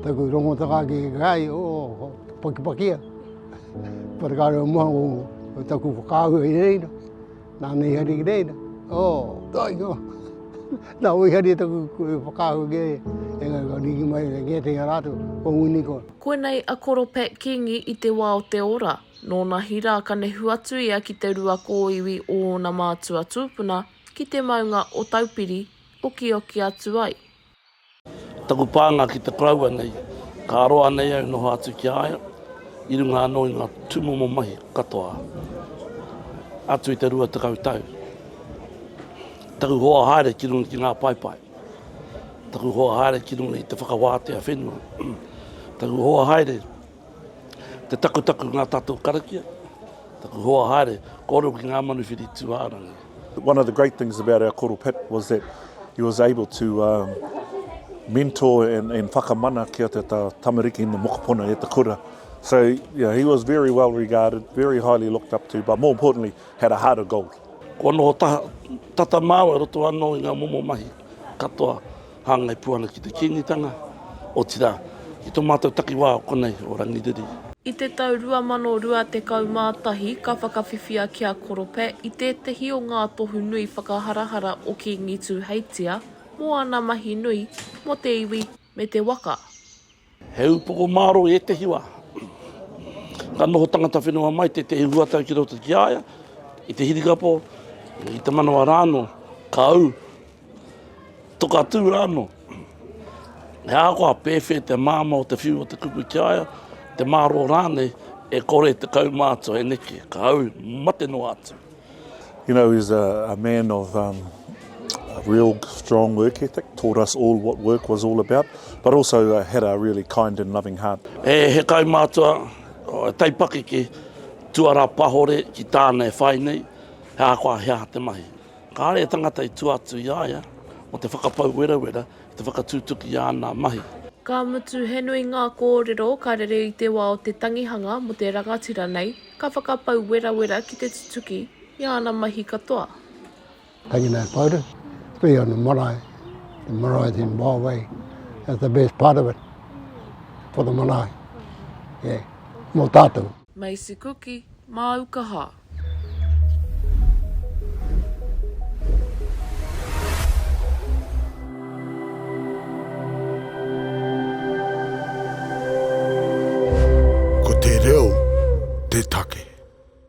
Taku rongotaka ki kai o Pakipakia. Parekare o mua o taku whakaahua i reira. Nā nei hari ki reira. Oh, doi ko. Nā oi hari taku whakaahua ki reira. E ngai ka riki mai e kia te rātou. Ko nguni ko. Koinei a Koro Pat Kingi i te wā o te ora. Nōna hi rā ka nehu atu ia ki te rua kōiwi o ōna mātua tūpuna ki te maunga o Taupiri, okioki atu ai. Taku pānga ki te koroua nei, ka roa nei au noho atu ki a ia, i runga anō i ngā tūmomo mahi katoa atu i te rua tekau tau. Taku hoa haere ki runga ki ngā paepae, taku hoa haere ki runga i te whakawātea whenua, taku hoa haere, Te takutaku ngā tatou karakia, taku hoa haere, kōrero ki ngā manuwhiri tūārangi. One of the great things about our koro Pip was that he was able to mentor and whakamana ki a te tamariki in the mokopuna e te kura. So yeah, he was very well regarded, very highly looked up to, but more importantly, had a heart of gold. Kua noho tata māua i roto anō i ngā momo mahi katoa. Hāngai pū ana ki te Kīngitanga, otirā, ki tō mātou takiwā o konei, o Rangiriri. I te tau 2021 ka whakawhiwhia ki a Korope i tētehi o ngā tohu nui whakaharahara o Kīngi Tūheitia mō ana mahi nui mō te iwi me te waka. He upoko mārō i ētehi wā. Ka noho tangata whenua mai tētehi huatau ki roto ki a ia, i te hirikapo, i te manawa rānō, ka ū, toka tū rānō. He ahakoa pēwhē te māmā o te whiu o te kupu ki a ia, te mārō rānei, e kore te kaumātua e neke, ka ū, mate noa atu. You know, he's a, a man of um, a real strong work ethic, taught us all what work was all about, but also uh, had a really kind and loving heart. He, he kai mātua, he taipakeke, tuara pahore ki tāna e whai nei, he ākoa hea te mahi. Kāre e tangata i tua atu i a ia, mo te whakapau werawera, te whakatūtuki i āna mahi. Ka mutu, he nui ngā kōrero ka rere i te wā o te tangihanga mō te rangatira nei. Ka whakapau werawera ki te tutuki i āna mahi katoa. Taking that photo, especially on the marae, the marae in Waowei, that's the best part of it for the marae, yeah, mo tatou. Macy Kuki, māu kaha. Ko te reo te take.